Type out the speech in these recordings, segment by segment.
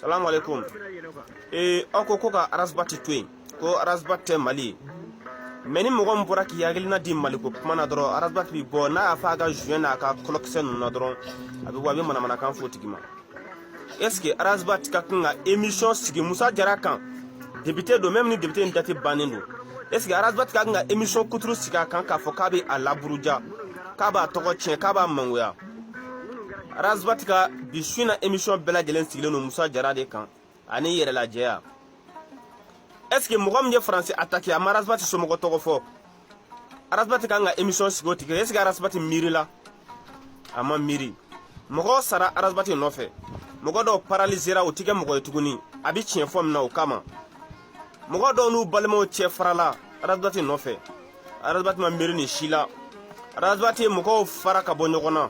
salamu alaikum ee eh, aw ko ko ka arasbati to yen ko arasbati tɛ mali ye mɛ ni mɔgɔ min bɔra k'i hakilina di maliko kuma na dɔrɔn arasbati bi bɔ n'a y'a fa a ka joint n'a ka kɔlɔkisɛ ninnu na dɔrɔn a bɛ bɔ a bɛ manamanakan fɔ tigi ma est ce que arasbati ka kan ka émission sigi musa jara kan depite don même ni depite in date bannen don est ce que arasbati ka kan ka émission kuturu sigi a kan k'a fɔ k'a bɛ a laburuja k'a b'a tɔgɔ tiɲɛ k'a b'a mangoya arazbati ka bi su in na emission bɛɛ lajɛlen sigilen don musa jara de kan ani yɛrɛlajɛya est ce que mɔgɔ min ye faransi atake a ma arazbati somɔgɔ tɔgɔ fɔ arazbati kan ka emission sigi o tigi est ce que arazbati miirila a ma miiri mɔgɔw sara arazbati nɔfɛ mɔgɔ dɔw paralizera u tɛ kɛ mɔgɔ ye tuguni a bɛ tiɲɛ fɔ min na o kama mɔgɔ dɔw n'u balimaw cɛ farala arazbati nɔfɛ arazbati ma miiri nin si la arazbati ye mɔgɔw fara ka bɔ ɲɔgɔn na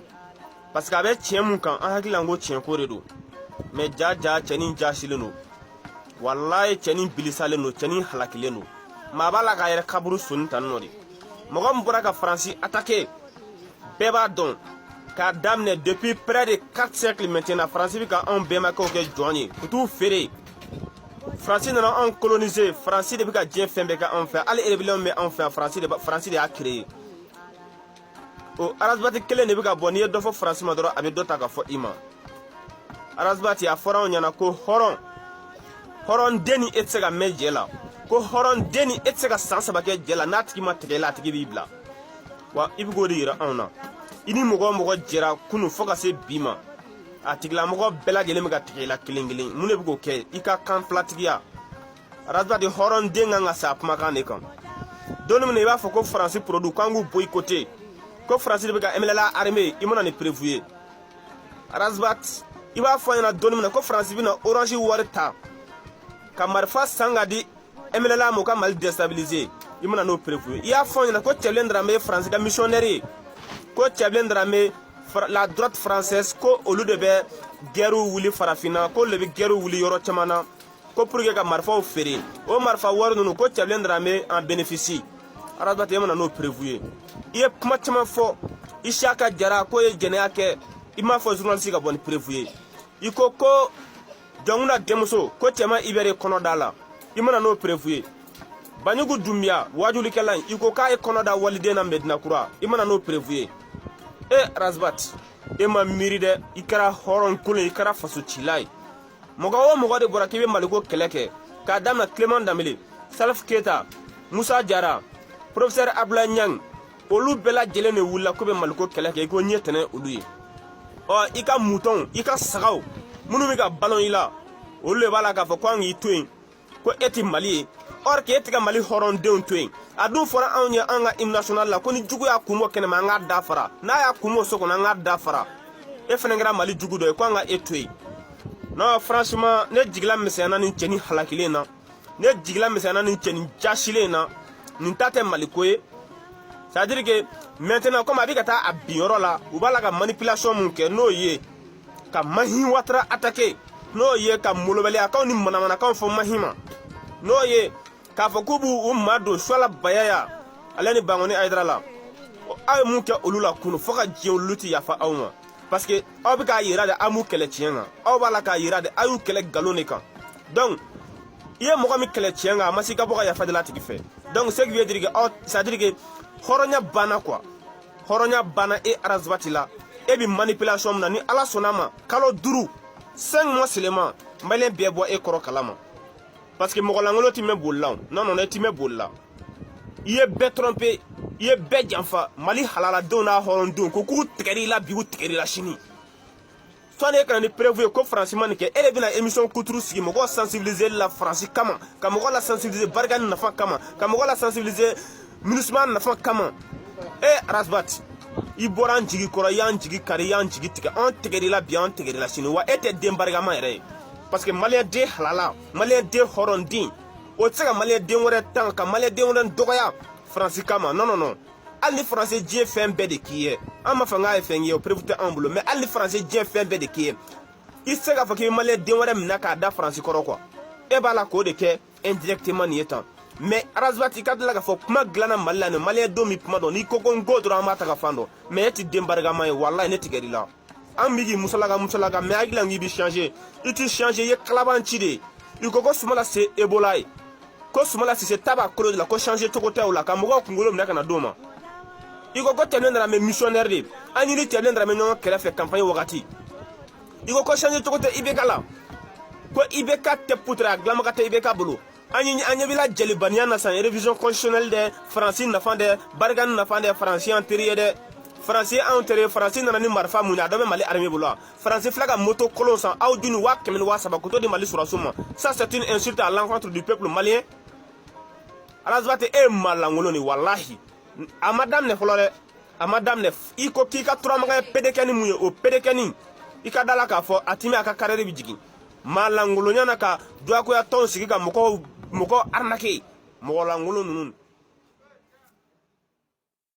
parce que a bɛ tiɲɛ min kan an hakili la ko tiɲɛko de don mɛ jaa jaa cɛnin jasilen don walayi cɛnin bilisalen don cɛnin halakilen don maa b'a la k'a yɛrɛ kaburu sɔnin tan nɔ de mɔgɔ min bɔra ka faransi atake bɛɛ b'a dɔn k'a daminɛ depuis près de 4 siècles maintenant faransi bɛ ka anw bɛnbakɛw kɛ jɔn ye u t'u feere faransi nana anw kolonise faransi de bɛ ka diɲɛ fɛn bɛɛ kɛ anw fɛ hali rébellion bɛ anw fɛ faransi de faransi de y'a créé o arazibati kelen de bɛ ka bɔ n'i ye dɔ fɔ faransi ma dɔrɔn a bɛ dɔ ta ka fɔ i ma arazibati a fɔra anw ɲɛna ko hɔrɔn hɔrɔn den ni e tɛ se ka mɛn jɛ la ko hɔrɔn den ni e tɛ se ka san saba kɛ jɛ la n'a tigi ma tigɛ i la a tigi b'i bila wa i bɛ k'o de yira anw na i ni mɔgɔ o mɔgɔ jɛra kunun fo ka se bi ma a tigilamɔgɔ bɛɛ lajɛlen bɛ ka tigɛ i la kelen kelen mun de bɛ k'o kɛ i ka kan filatigiya arazbati hɔrɔn den kan ka sa a kumakan de kan don min na i b'a fɔ ko faransi produit k'an k'u boyikote ko faransi de bɛ ka mnla arme i ma na ni perefu ye razbat i b'a fɔ an ɲɛna don min na ko faransi bɛna orange wari ta ka marifa san ka di mnla ma u ka mali destabilise i ma na n'o perefu ye i y'a fɔ ɲɛna ko cɛbilen daramɛ ye faransi ka misiyɔnɛri ye ko cɛbilen daramɛ la droite française ko olu de bɛ gɛriw wuli farafinna ko olu de bɛ gɛriw wuli yɔrɔ caman na ko pour que ka marifaw feere o marifa wari ninnu ko cɛbilen daramɛ en bénéficie arazbati e ma na n'o perefu ye i ye kuma caman fɔ isiyaka jara k'o ye jɛnɛya kɛ i m'a fɔ journaliste ka bɔ ni perefu ye i ko ko jɔnkunda denmuso ko cɛman ibɛri kɔnɔ da la i ma na n'o perefu ye banjugu dunbiya waajulikɛla in i ko k'a ye kɔnɔ da waliden na medina kura i ma na n'o perefu ye e rasbat e ma miiri dɛ i kɛra hɔrɔn kolon i kɛra fasocila ye mɔgɔ o mɔgɔ de bɔra k'i bɛ maliko kɛlɛ kɛ k'a damina clément danbele salif keta musa jara profesɛr abdulayi ɲang olu bɛɛ lajɛlen de wulila k'u bɛ maliko kɛlɛ kɛ i ko ɲɛ tɛnɛ olu ye ɔ i ka mutɔnw i ka sagaw minnu bɛ ka balo i la olu de b'a la k'a fɔ ko an k'i to yen ko e tɛ mali ye or que e tɛ ka mali hɔrɔndenw to yen a dun fɔra anw ye an ka hymne national la ko ni jugu y'a kun bɔ kɛnɛma an k'a da fara n'a y'a kun bɔ so kɔnɔ an k'a da fara e fana kɛra mali jugu dɔ ye ko an ka e to yen non franchement ne jigila misɛnyana nin cɛnin halakilen na ne jigila misɛnyana nin cɛnin jasilen in na nin ta tɛ maliko ye c'est à dire que maintenant comme a bɛ ka taa a bin yɔrɔ la u b'a la ka manipulation mun kɛ n'o ye ka mahin watara attaquer n'o ye ka molobaliyakanw ni manamanakanw fɔ mahin ma n'o ye k'a fɔ k'u b'u madon suala bayaya ale ni bangoni ayidara la aw ye mun kɛ olu la kunu fo ka diɲɛ olu ti yafa aw ma parce que aw bɛ k'a yira de aw m'u kɛlɛ tiɲɛ kan aw b'a la k'a yira de aw y'u kɛlɛ nkalon de kan donc i ye mɔgɔ min kɛlɛ tiɲɛ kan a ma se i ka bɔ ka yafa deli a tigi fɛ donc ce qui veut dire que aw c'est à dire que hɔrɔnya banna quoi hɔrɔnya banna e arasibati la e bɛ manipulation min na ni ala sɔnna a ma kalo duuru cinq mois seulement maliyɛn bɛɛ bɔ e kɔrɔ kalama parce que mɔgɔ lankolon ti mɛn boli la non non e ti mɛn boli la i ye bɛɛ tromper i ye bɛɛ janfa mali halaladenw n'a hɔrɔndenw ko k'u tigɛr'i la bi u tigɛr'i la sini sani e ka na ni preuve ye ko faransi ma nin kɛ e de bɛna émission kuturu sigi mɔgɔw sensibiliser la faransi kama ka mɔgɔ la sensibiliser barkhane nafa kama ka mɔgɔ la sensibiliser minusima nafa kama e arasibati i bɔra an jigi kɔrɔ i y'an jigi kari i y'an jigi tigɛ an tigɛr'i la bi an tigɛr'i la sini wa e tɛ den barikama yɛrɛ ye parce que maliyɛn den halala maliyɛn den hɔrɔnden o tɛ se ka maliyɛn den wɛrɛ tan ka maliyɛn den wɛrɛ dɔgɔya faransi kama non non non hali ni faransi diɲɛ fɛn bɛɛ de k'i ye an m'a fɔ k'a ye fɛn ye o preuve tɛ anw bolo mais hali ni faransi diɲɛ fɛn bɛɛ de k'i ye i tɛ se k'a fɔ k'i bɛ maliyɛn den wɛrɛ minɛ k'a da faransi kɔrɔ quoi e b'a la k'o de kɛ indirectement nin ye tan mais arasibati i ka da la k'a fɔ kuma dilanna mali la nin maliyɛn don min kuma dɔn n'i ko ko n ko dɔrɔn an b'a taga fan dɔn mais e ti den barikama ye walayi ne tigɛr'i la an bi k'i musalaka musalaka mais hakili la k'i bi changer i ti changer i ye kalabanci de ye i ko ko sumala se ebola ye ko sumala sise ta b'a kolo de la ko changer cogo tɛ o la ka mɔgɔw kunkolo minɛ ka na d'o ma i ko ko tiébilé dramé missionnaire de an y'i ni tiébilé dramé ɲɔgɔn kɛrɛfɛ campagne wagati i ko ko changer cogo tɛ ibk la ko ibk tɛ putura a dilanbaga tɛ ibk bolo an ye an ɲɛ b'i la jelibaniya na san révision constitutionnelle dɛ faransi nafa dɛ barkhane nafa dɛ faransi an teri ye dɛ faransi anw teri faransi nana ni marifa mun ye a dɔ bɛ mali armée bolo wa faransi filɛ ka moto kolon san aw dun ni waa kɛmɛ ni waa saba ka t'o di mali sɔrɔdasiw ma ça c'est une insulte à l'encontre du peuple malien arasibati e ye maa lankolon de walahi a ma daminɛ fɔlɔ dɛ a ma daminɛ i ko k'i ka turamagaya pedekɛni mun ye o pedekɛni i ka da la k'a fɔ a timi a ka carrière bi jigin maa lankolonya na ka diyagoya tɔnw sigi ka mɔgɔw arnaquer mɔgɔ lankolon ninnu